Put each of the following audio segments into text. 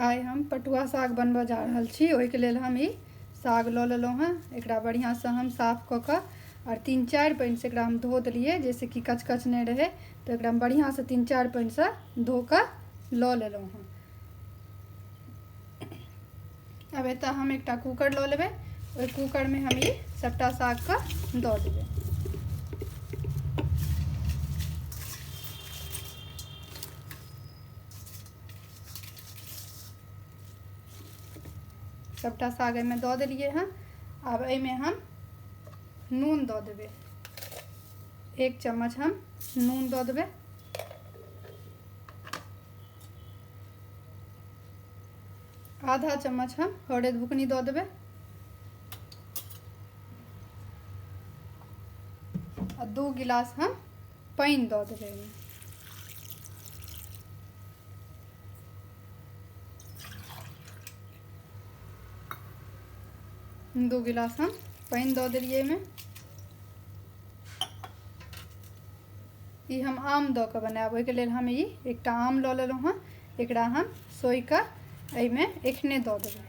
आइ हम पटुआ साग बनबऽ जा रहल छी ओहिके लेल हम ई साग लऽ लेलहुँ हँ एकरा बढ़िआँसँ हम साफ कऽ कऽ आओर तीन चारि पानिसँ एकरा हम धो देलिए जाहिसँ कि कचकच नहि रहै तऽ एकरा हम बढ़िआँसँ तीन चारि पानिसँ धो कऽ लऽ लेलहुँ हँ आब एतऽ हम एकटा कूकर लऽ लेबै ओहि कूकरमे हम ई सभटा सागके दऽ देबै सभटा साग एहिमे दऽ देलियै हँ आब एहिमे हम नून दऽ देबै एक चम्मच हम नून दऽ देबै आधा चम्मच हम हरद बुकनी दऽ देबै आ दू गिलास हम पानि दऽ देबै एहिमे दू गिलास हम पानि दऽ देलियै एहिमे ई हम आम दऽ कऽ बनायब ओहिके लेल हम ई एकटा आम लऽ लेलहुँ हँ एकरा हम सोहि कऽ एहिमे एखने दऽ देबै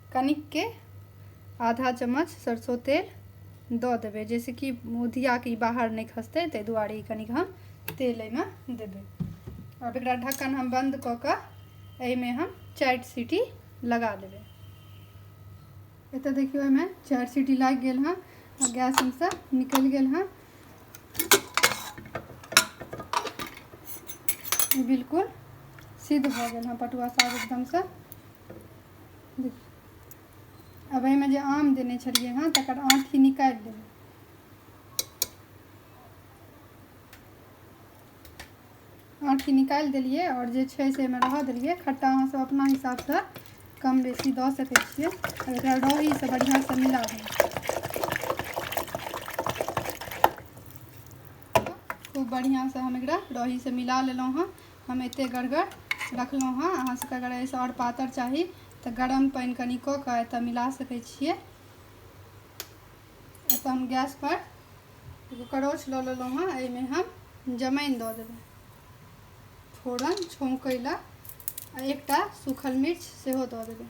कनिकके आधा चम्मच सरसो तेल दऽ देबै जाहिसँ कि उधियाके ई बाहर नहि खसतै ताहि दुआरे ई कनिक हम तेल एहिमे देबै आब एकरा ढक्कन हम बन्द कऽ कऽ एहिमे हम चारि सीटी लगा देबै एतऽ देखियौ एहिमे चारि सीटी लागि गेल हँ आ गैस हमसँ निकलि गेल हँ बिल्कुल सिद्ध भऽ गेल हँ पटुआ साग एकदमसँ अब एहिमे जे आम देने छलियै हँ तकर आँठी निकालि देबै आँठी निकालि देलियै आओर जे छै से एहिमे रहऽ देलियै खट्टा अहाँसभ अपना हिसाबसँ कम बेसी दऽ सकै छियै आओर एकरा रौहीसँ बढ़िआँसँ मिला देबै खूब बढ़िआँसँ हम एकरा रौहीसँ मिला लेलहुँ हँ हम एते गड़गड़ रखलहुँ हँ अहाँ सबके अगर एहिसँ आओर पातर चाही तऽ गरम पानि कनि कऽ कऽ एतऽ मिला सकै छियै एतऽ हम गैस पर एगो करोछ लऽ लेलहुँ हँ एहिमे हम जमाइन दऽ देबै फोरन छौंकै लए आ एकटा सूखल मिर्च सेहो दऽ देबै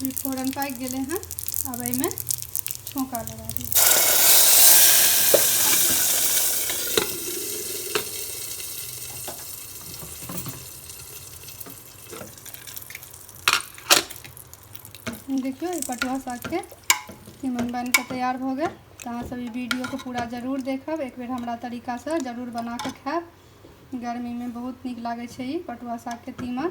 ई फोरन पाकि गेलै हँ आब एहिमे छौँका लगा दी देखियौ ई पटुआ सागके तीमन बनि कऽ तैयार भऽ गेल तऽ अहाँसभ ई वीडियोके पूरा जरूर देखब एक बेर हमरा तरीकासँ जरूर बना कऽ खायब गर्मीमे बहुत नीक लागै छै ई पटुआ सागके तीमन